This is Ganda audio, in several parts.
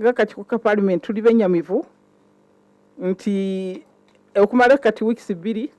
ng'akakiiko ka paalimenti tuli benyamivu nti okumala kati wiikisi bbiri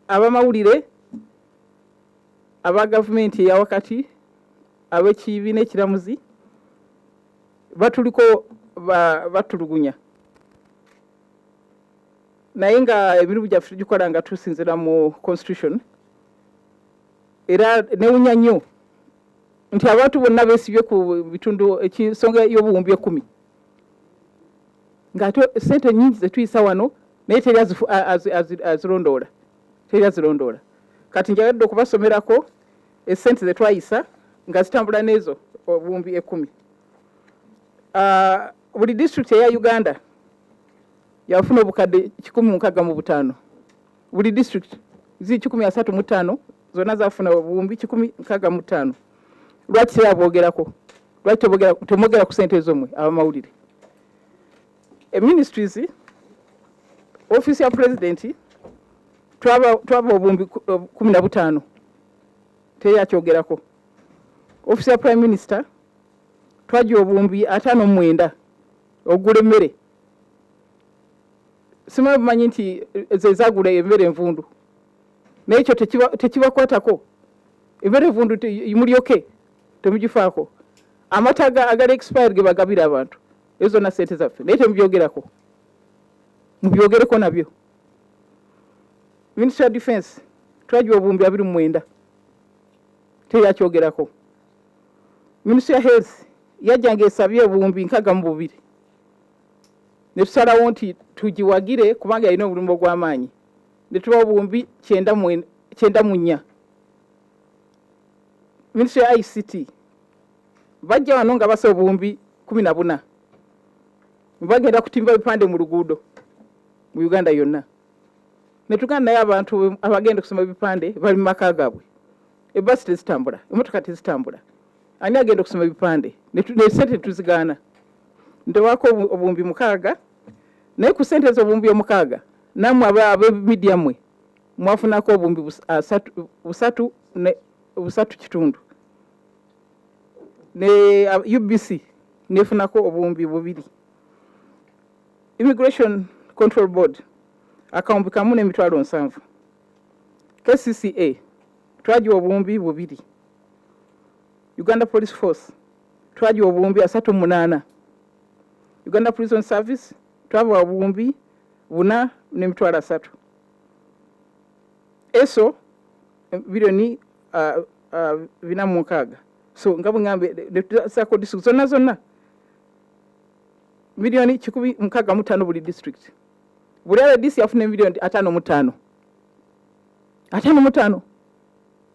abamawulire aba gavumenti eyawakati ab'ekibiina ekiramuzi batuliko batulugunya naye nga emirimu gyaffe tugikola nga tusinzira mu constitution era newunya nnyo nti abantu bonna besibye ku bitundu ekinsonga y'obuwumbi ekumi ng'ate sente nyingi zetuyisa wano naye teri azirondoola teri azirondoola kati njagadde okubasomerako esente zetwayisa nga zitambula n'ezo obuwumbi ekumi ah, buli disitulikiti eya uganda yafuna obukadde kikumi mu nkaaga mu butaano buli district zi kikumi asatu mu ttaano zonna zafuna obuwumbi kikumi nkaaga mu ttaano lwaki tebabwogerako lwaki temwogera ku sente ezo mwe abamawulire eministries eh, offiisi ya pulezidenti twaba obumbi eh, kumi na butaano teyakyogerako offiisi ya prime minister twaja obumbi ataano mwenda ogula emmere simanyi bumanyi nti zezagula embeera envundu naye ekyo tekibakwatako embeera envundu mulyoke temugifaako amata agali expired gebagabira abantu ezo zonna sente zaffe naye temubyogerako mubyogereko nabyo ministry ya defense twagiwa obuwumbi abiri mu mwenda teyakyogerako ministry ya health yajjanga esabye obuwumbi nkaga mu bubiri ne tusalawo nti tugiwagire kubanga yalina obulumba ogw'amaanyi ne tubawo obuwumbi kyenda mu nnya minisitule ya ict bajja wano nga basa obuwumbi kumi na buna bagenda kutimba bipande mu luguudo mu uganda yonna ne tuganda naye abantu abagenda okusoma ebipande bali mu maka gaabwe ebbasi tezitambula emotoka tezitambula ani agenda okusoma ebipande nesente tuzigaana ntewako obuwumbi mukaaga naye ku sente ezo obuwumbi omukaaga namwe abemidia mwe mwafunako obuwumbi busatu busatu kitundu ne ubc nefunako obuwumbi bubiri immigration control board akawumbi kamu nemitwalo nsanvu kcca twagiwa obuwumbi bubiri Uganda Police Force twagiwa obuwumbi asatu mu munaana Uganda Prison Service twabawa obuwumbi buna n'emitwalo asatu eso bilioni uh, uh, bina mu nkaaga so nga bwe ŋambe netusaako district zonna zonna miliyoni kikumi mukaaga mu ttaano buli district buli rdc yafuna emiliyoni ataano mu ttaano ataano mu ttaano